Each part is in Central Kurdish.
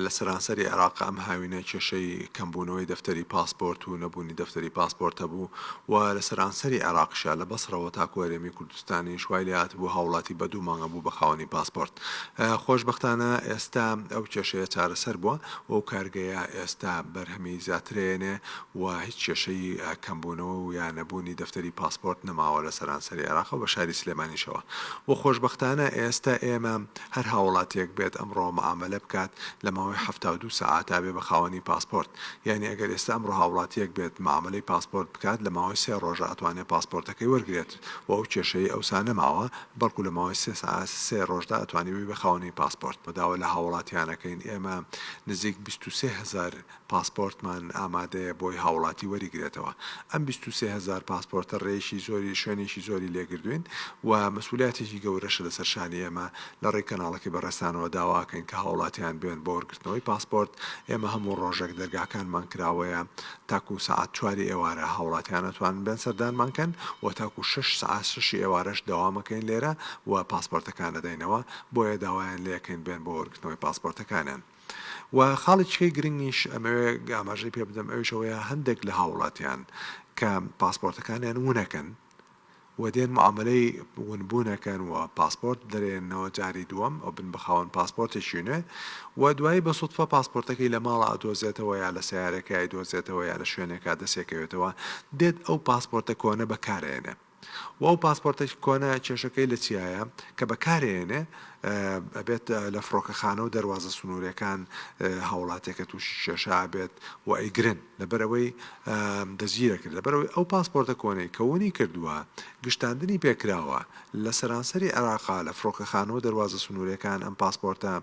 لە سەرانسەری عێراق ئەم هاوینە کێشەی کەمبوونەوەی دەفتەری پاسپۆرت و نەبوونی دەفتەری پاسپۆرت هەبوو و لە سەرانسەری عێراقشە لە بەسڕەوە تاکو هەرێمی کوردستانیش وای لێهاتبوو هاوڵاتی بە دوو مانگە بوو بە خاوەنی پاسپۆرت خۆشبەختانە ئێستا ئەو کێشەیە چارەسەر بووە و ئەو کارگەیە ئێستا بەرهەمی زیاترێنێ و هیچ کێشەی کەمبوونەوە و یا نەبوونی دەفتەری پاسپۆرت نەماوە لە سەرانسەری عێراق و بە شاری سلێمانیشەوە و خۆشببختانە ئێستا ئێمە هەر هاوڵاتیەک بێت ئەمڕۆ معامەلە بکات لە ماوەی حەفتا و دوو سەعات ئەبێ بە خاوەنی پاسپۆرت یانی ئەگەر ئێستا ئەمڕۆ هاوڵاتیەک بێت معامەلەی پاسپۆرت بکات لە ماوەی سێ ڕۆژە ئەتوانێت پاسپۆرتەکەی وەرگرێت و ئەو کێشەی ئەوسا نەماوە بەڵکو لە ماوەی سێ سەعات سێ ڕۆژدا ئەتوانی ببی بە خاوەنی پاسپۆرت. داوا لە هاوڵاتیانەکەین ئێمە نزیک بیست و سێ هەزار پاسپۆرتمان ئامادەیە بۆی هاوڵاتی وەریگرێتەوە ئەم بیست و سێ هەزار پاسپۆرتە رێیشی زۆری شوێنیشی زۆری لێگردوین و مەسولیاتێکی گەورەشە لەسەر شانی ئێمە لە ڕێی کەناڵەکەی بەڕێزتانەوە داواکەین کە هاوڵاتیان بێن بۆ وەرگرتنەوەی پاسپۆرت ئێمە هەموو ڕۆژێک دەرگاکانمان کراوەیە تاکو سەعات چواری ئێوارە هاوڵاتیان ئەتوانن بێن سەردانمان کەن و تاکو شەش سەعات شەشی ئێوارەش دەوامەکەین لێرە و پاسپۆرتەکان ئەدەینەوە بۆیە داوایان لێکەین بێن بۆ وەرگرتنەوەی پاسپۆرتەکانیان. وە خاڵیکیی گرنگیش ئەمەوێ ئاماژەی پێ بدەم ئەویش ئەوەیە هەندێک لە هاوڵاتیان کە پاسپۆرتەکانیان ونەکەن و دێن معاملەی ونبوونەکەن و پاسپۆرت دەرێنەوە جاری دووەم ئەو بن بەخاوەن پاسپۆرتێکی نوێ و دوایی بە سوتفە پاسپۆرتەکەی لە ماڵە ئەدۆزێتەوە یا لە سیارەکەی دۆزێتەوە یا لە شوێنێکا دەسێکەوێتەوە دێت ئەو پاسپۆرتە کۆنە بەکارێنێ و ئەو پاسپۆرتە کۆنە کێشەکەی لە چیایە کە بەکارێنێ ئەبێت لە فڕۆکەخانە و دەروازە سنوورەکان هاوڵاتێکە تووشی کێشا بێت و ئەیگرن لەبەرەوەی دەزگیرە کرد لەبەرەوەی ئەو پاسپۆرتە کۆنەی کەونی کردووە گشتاندنی پێکراوە لە سەرانسەری عێراقا لە فڕۆکەخانە و دەروازە سنوورەکان ئەم پاسپۆرتە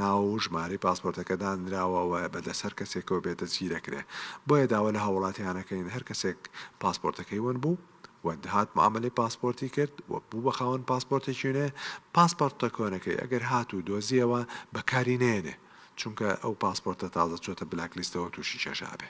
ناو و ژمارەی پاسپۆرتەکە دانراوەوە بە دەسەر کەسێکەوە بێت دەزگیرەکرێ بۆیە داوا لە هاوڵاتیانەکەین هەر کەسێک پاسپۆرتەکەی ون بوو و هات معامەلەی پاسپۆرتی کرد و بوو بە خاوەن پاسپۆرتێکی نوێ، پاسپۆرتە کۆنەکەی ئەگەر هات و دۆزیەوە بەکاری نەیەنێ چونکە ئەو پاسپۆرتە تازە چۆتە بلاک لیستەوە توشی چەژابێ.